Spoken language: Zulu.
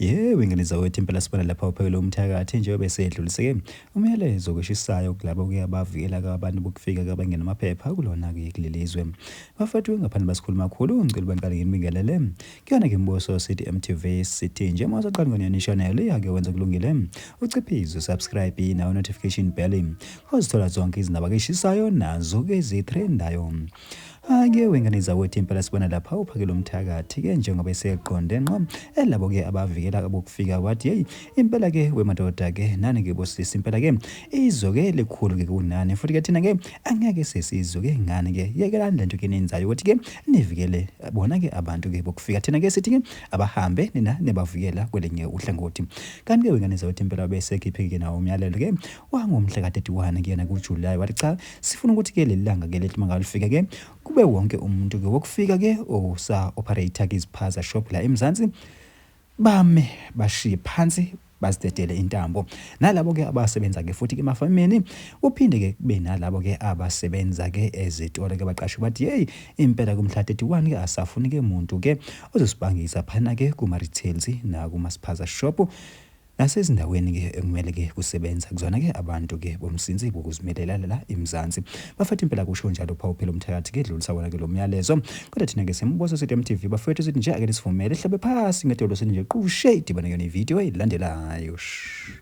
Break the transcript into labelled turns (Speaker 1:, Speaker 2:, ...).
Speaker 1: Yewe ngane zawethu impela sibona lapha uphekele umthakathi njengoba esedluliseke umyalezo kweshisayo kulabo kuya bavikela abantu bokufika kabangena amaphepha kulona kuye kulelizwe bafethu ngaphandle basikhuluma kakhulu ngicela bangqale nginibingelele kuyona ke mbuso sithi MTV sithi nje mase qala ngene channel yake wenza kulungile uciphize subscribe nawo notification bell ozithola zonke izindaba keshisayo nazo ke zitrendayo Ake wengane zakwethu impela sibona lapha uphakela umthakathi ke njengoba eseqonde nqo elabo ke abavikela abokufika wathi hey impela ke wemadoda ke nani ke bosisi impela ke izwe ke likhulu ke kunani futhi ke thina ke angeke sesizwe ke ngani ke yekelani lento ke nenzayo ukuthi ke nivikele bona ke abantu ke bokufika thina ke sithi ke abahambe nina nebavikela kwelinye uhlangothi kanti ke wengane zakwethu impela bese khipheke nawo umyalelo ke wangomhla ka-31 kuyena kuJuly wathi cha Sifuna ukuthi ke lelanga ke lethi mangalifika ke kube wonke umuntu ke wokufika ke osa operator ke iziphaza shop la eMzansi bame bashiye phansi bazidedele intambo nalabo ke abasebenza ke futhi ke emafamini uphinde ke kube nalabo ke abasebenza ke ezitolo ke baqashe bathi hey impela kumhla 31 ke asafuni ke muntu ke ozosibangisa phana ke kuma retails na kuma spaza shop Nasezindaweni ke ekumele ke kusebenza kuzona ke abantu ke bomsinsi bokuzimilela la eMzansi. Bafethu impela kusho njalo phawu phela umthakathi ke dlulisa wona ke lo myalezo. Kodwa thina ke siyamubosa sithi MTV bafethu sithi nje ake nisivumele sihlabe phasi ngedolo sithi nje qushe idibane kuyona ivideo elandelayo. Shh.